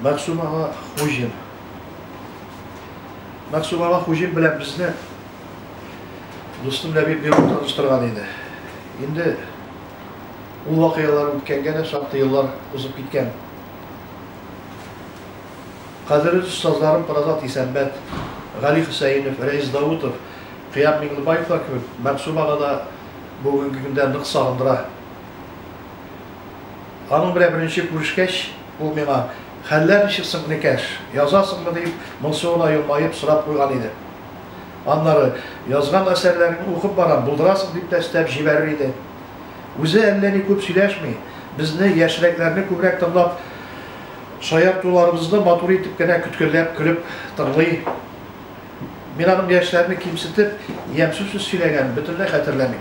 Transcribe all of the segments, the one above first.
Мәгъсүм ага Хуҗин. Мәгъсүм ага Хуҗин белән безне дустым Ләбиб Биров таныштырган иде. Инде ул вакыйгалар үткәнгә дә шактый еллар узып киткән. Кадерле остазларым Пыразат Исәнбәт, Гали Хөсәенов, Рәис Даутов, Кыям Миңлебаевлар кебек Мәгъсүм ага да бүгенге көндә нык сагындыра. Аның белән беренче күрешкәч, Ул миңа, Хәлләр ничек соң, Некәш, язасыңмы? дип, моңсу гына елмаеп, сорап куйган иде. Аннары, Язган әсәрләреңне укып барам, булдырасың, дип тә өстәп җибәрер иде. Үзе әллә ни күп сөйләшми, безне, яшьрәкләрне күбрәк тыңлап, шаяртуларыбызны матур итеп кенә көткәләп көлеп тыңлый. Мин аның яшьләрне кимсетеп, ямьсез сүз сөйләгәнен бөтенләй хәтерләмим.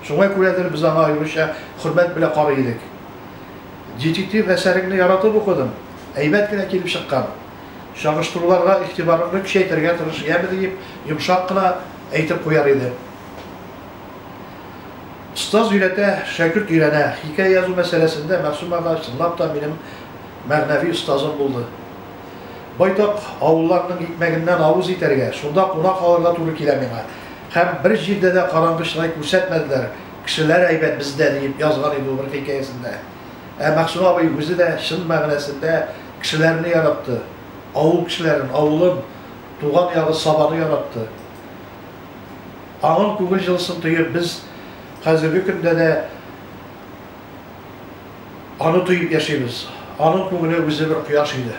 Шуңа күрәдер, без аңа аеруча хөрмәт белә карый идек. Детектив әсәреңне яратып укыдым, әйбәт кенә килеп чыккан. Чагыштыруларга игътибарыңны көчәйтергә тырыш, яме, диеп йомшак кына әйтеп куяр идем. Остаз өйрәтә, шәкерт өйрәнә. Хикәя язу мәсьәләсендә Мәгъсүм агач чынлап та минем мәгънәви остазым булды. Байтак авылларның икмәгеннән авыз итәргә, шунда куна калырга туры килә миңа. Һәм бер җирдә дә караңгы чырай күрсәтмәделәр, Кешеләр әйбәт бездә, диеп язган иде ул бер хикәясендә. Ә Мәгъсүм абый үзе дә чын мәгънәсендә кешеләрне яратты. Авыл кешеләрен, авылын, туган ягы Сабаны яратты. Аның күңел җылысын тоеп, без хәзерге көндә дә аны тоеп яшибез. Аның күңеле үзе бер кояш иде.